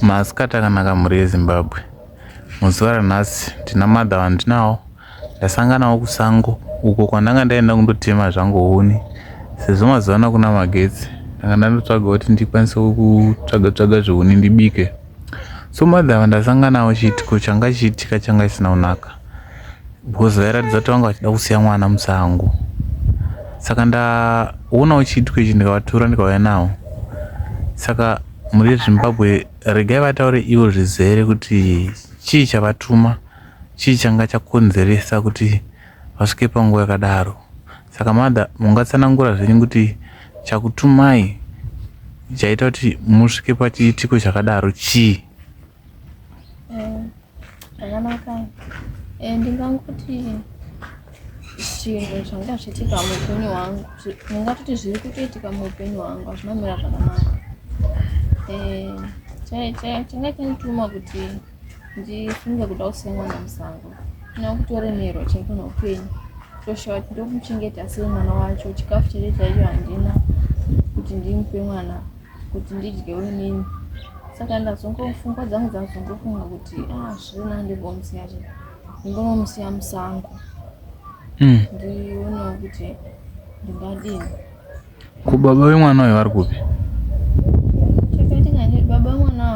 Masikati akanaka mhuri yeZimbabwe. Muzuva ranhasi ndina madha vandinawo ndasanganawo kusango uko kwandanga ndaenda kundotema zvangu huni sezvo mazuva ano kuna magetsi ndanga ndandotsvaga kuti ndikwanise kutsvaga tsvaga zvehuni ndibike so madha vandasanganawo chiitiko changa chiitika changa chisina kunaka because vairatidza kuti vanga vachida kusiya mwana musango saka ndaona uchiitwa ichi ndikavatura ndikauya nawo saka muri vezimbabwe regai vataure ivo zvizere kuti chii chavatuma chii changa chakonzeresa kuti vasvike panguva yakadaro saka mother mungatsanangura zvenyu kuti chakutumai chaita kuti musvike pachiitiko chakadaro chii Eh, zvakanaka eh, ndingangoti zvinhu zvanga zvichiitika muupenyu hwangu ndingatoti zviri kutoitika muupenyu hwangu hazvina mira zvakanaka eh, changa chandituma kuti ndifunge kuda kusiya mwana musango kana kutoremerwa chaiko noupenyu toshawa kuti ndomuchengeta sei mwana wacho chikafu chete chaicho handina kuti ndimupe mwana kuti ndidyewo inini saka ndazongofunga dzangu dzazongofunga kuti ah zvina ndimbomusiya zve ndimbonomusiya musango hmm. ndionawo kuti ndingadini ko baba vemwana uyo vari kupi chakaitika ndi baba vemwana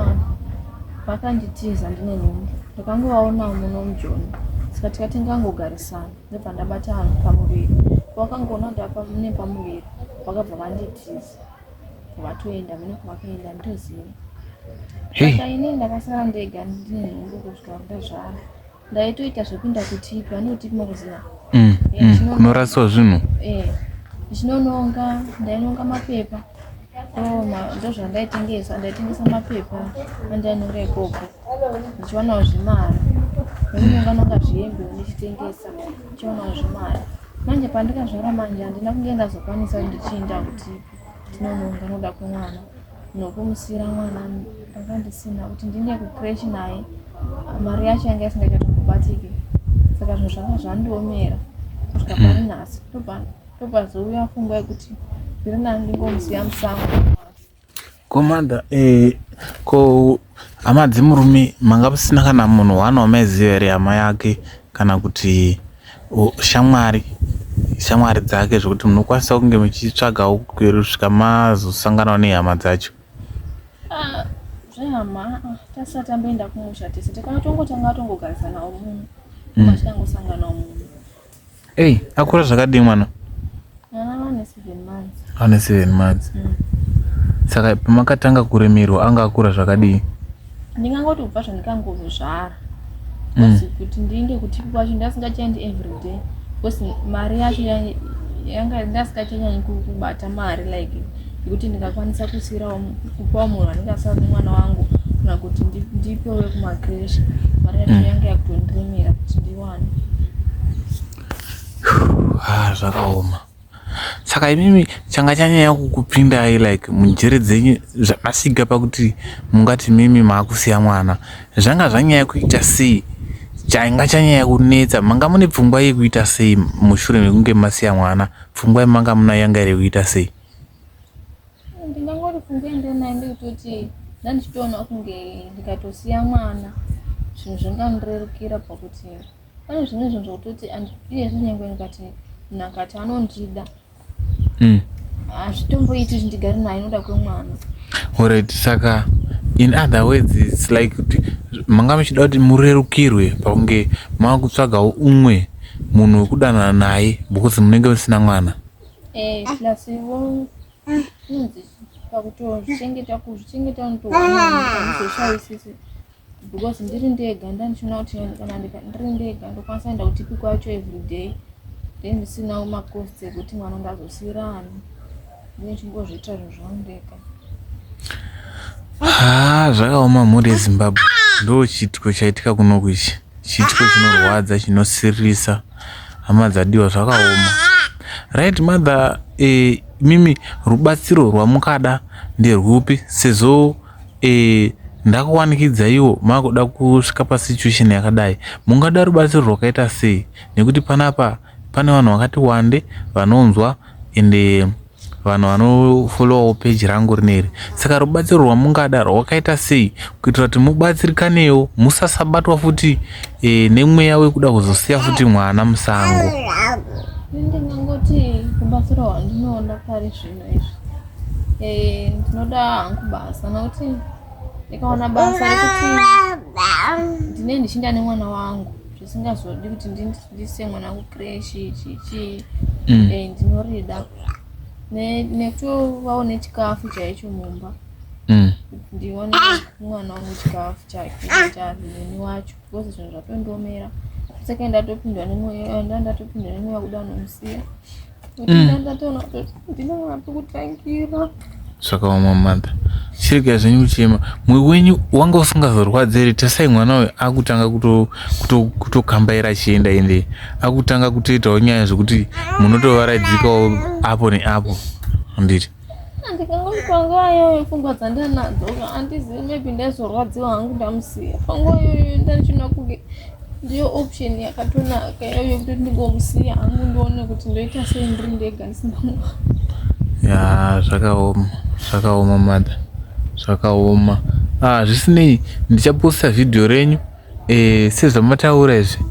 vakanditiza ndine nhumbu ndakangovaonawo muno mujoni saka tikati ngangogarisana ndobva ndabata vanhu pamuviri vakangoona kuti apa mune pamuviri vakabva vanditiza kwavatoenda mune kwavakaenda nditoziva saka ini ndakasara ndega ndine nhumbu kusvika kuda zvaro ndaitoita zvekuenda kutipi vanokutipi makuziva mm, mm, kunoraswa zvinhu eh, ndichinononga ndainonga mapepa oh, ndozvandaitengesa ndaitengesa mapepa andainonga ikoko ndichionawo zvimari ndinonganonga zvihembe ndichitengesa ndichionawo zvimari manje pandikazvara manje handina kunge ndazokwanisa kuti ndichiinda kuti ndinononga noda kwemwana nokumusiira mwana ndanga ndisina kuti ndine kucresh naye mari yacho yanga isingachatokubatike saka zvinhu zvanga zvandiomera kusvika mm. pari nhasi tobva tobva zouya fungwa yekuti zviri nani ndingomusiya musango Komanda eh, ko hama dzemurume manga musina kana munhu one wamaiziva here hama yake kana kuti shamwari shamwari dzake zvekuti munokwanisa kunge muchitsvagawo kusvika mazosanganawo nehama dzacho ah, zvehama tasati tamboenda kumusha tese takatongotanga tongogarisanawo munhu mm. machitangosanganawo munhu Hey, akura zvakadii mwana? Ane seven months. Mm. Saka pamakatanga kuremerwa anga akura zvakadii? Ndingangoti kubva zvandikangozvara. Mm. Kuti ndiende kuti kwacho ndasingachaendi everyday. Because mari yacho yanga ndasingachanyanyi kubata mari like Kuti ndingakwanisa kusiirawo kupawo munhu anenge asaona mwana wangu kana kuti ndipewe kumacresh mari yacho mm. yange yakutondiremera kuti ndiwane ah, zvakaoma saka imimi changa chanyanya kukupindai like munjere dzenyu zvakasvika pakuti mungati mimi maakusiya mwana zvanga zvanyaya kuita sei chainga chanyaya kunetsa manga mune pfungwa yekuita sei mushure mekunge masiya mwana Pfungwa yamanga munayo yanga iri kuita sei? Ndingangori pfungwa yandinayo ndeyekutoti ndandichitoona kunge ndikatosiya mwana zvinhu zvingandirerukira pakuti pane zvimwe zvinhu zvekutoti iyezvi nyange ndikati munhu akati anondida mm. hazvitomboiti ah, zvindigari naye inoda kwemwana orit saka in other words its like kuti manga muchida kuti murerukirwe pakunge maakutsvagawo umwe munhu wekudanana naye because munenge musina mwana eh, pakutochengeta kuzvichengeta ndozoshayisisi because ndiri ndega ndandichiona kuti kana ndiri ndega ndokwanisa enda kuti piko yacho everyday then ndisinawo macost ekuti mwana ndazosiyira ani haa zvakaoma mhuri yezimbabwe ndo chiitiko chaitika kunoku ichi chiitiko chinorwadza chinosiririsa hama dzadiwa zvakaoma right mother eh, mimi rubatsiro rwamukada nderwupi sezvo eh, ndakuwanikidza iwo makuda kusvika pasituation yakadai mungada rubatsiro rwakaita sei nekuti panapa Pane vanhu vakati wande vanonzwa ende vanhu vanofollowawo peji rangu rineri saka rubatsiro rwamungada rwakaita sei kuitira kuti mubatsirikanewo musasabatwa futi e, nemweya wekuda kuzosiya futi mwana musango eh, ndinoda hangu basa nokuti ndikaona basa rekuti ndine ndichinda nemwana wangu zvisingazodi kuti ndi ndise mwana kucreshi ichi chii mm. eh, ndinorida nekutovawo nechikafu chaicho mumba mm. ndione mwana wangu chikafu chake chazini wacho because zvinhu zvatondiomera saka ndatopindwa nemoyo ndatopindwa nemoyo kuda nomusiya zvakaoma mm. mother chirega zvenyu kuchema mwe wenyu wanga usingazorwadze here tasai mwana uyo akutanga kutokambaira achienda ende akutanga kutoitawo nyaya zvekuti munotovaraidzikawo apo neapo handiti Handingaoni panguva iyoyo pfungwa dzandanadzo handizivi maybe ndaizorwadziwa hangu ndamusiya panguva iyoyo ndandichinona kunge ndiyo option yakatonaka iyoyo yekuti ndingomusiya hangu ndione kuti ndoita sei ndiri ndega ndisina mwana ya zvakaoma zvakaoma mother zvakaoma ah zvisinei ndichaposta vhidhiyo renyu eh, sezvamataura izvi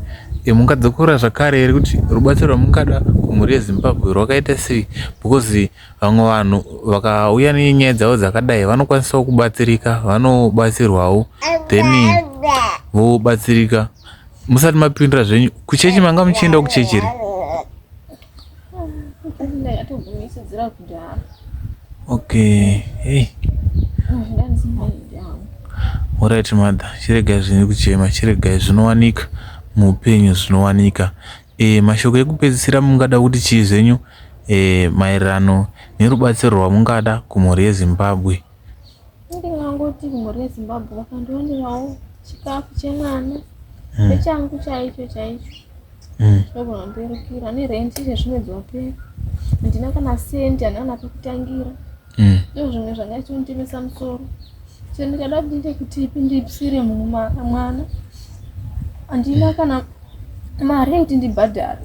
eh, mungadzokora zvakare here kuti rubatsiro rwamungada kumhuri yezimbabwe rwakaita sei because vamwe vanhu vakauya nenyaya dzavo dzakadai vanokwanisawo kubatsirika vanobatsirwawo then vobatsirika musati mapindura zvenyu kuchechi manga muchienda kuchechi here Okay. Hey. Alright mother, chiregai zvine kuchema, chiregai zvinowanika muupenyu zvinowanika. E, mashoko ekupedzisira mungada kuti chii zvenyu e, maererano nerubatsiro rwamungada kumhuri yeZimbabwe. ndingangoti mhuri yezimbabwe vakandiwanirawo chikafu chemwana hmm. nechangu chaicho chaicho hmm. ndogona mberukira nerent izve zvinodzi wapera handina kana sendi handina kana pekutangira hmm. ndo zvimwe zvanga chitonditemesa musoro so ndikada kuti ndiite kuti ipi ndipisire munhu mwana handina kana mari yekuti ndibhadhare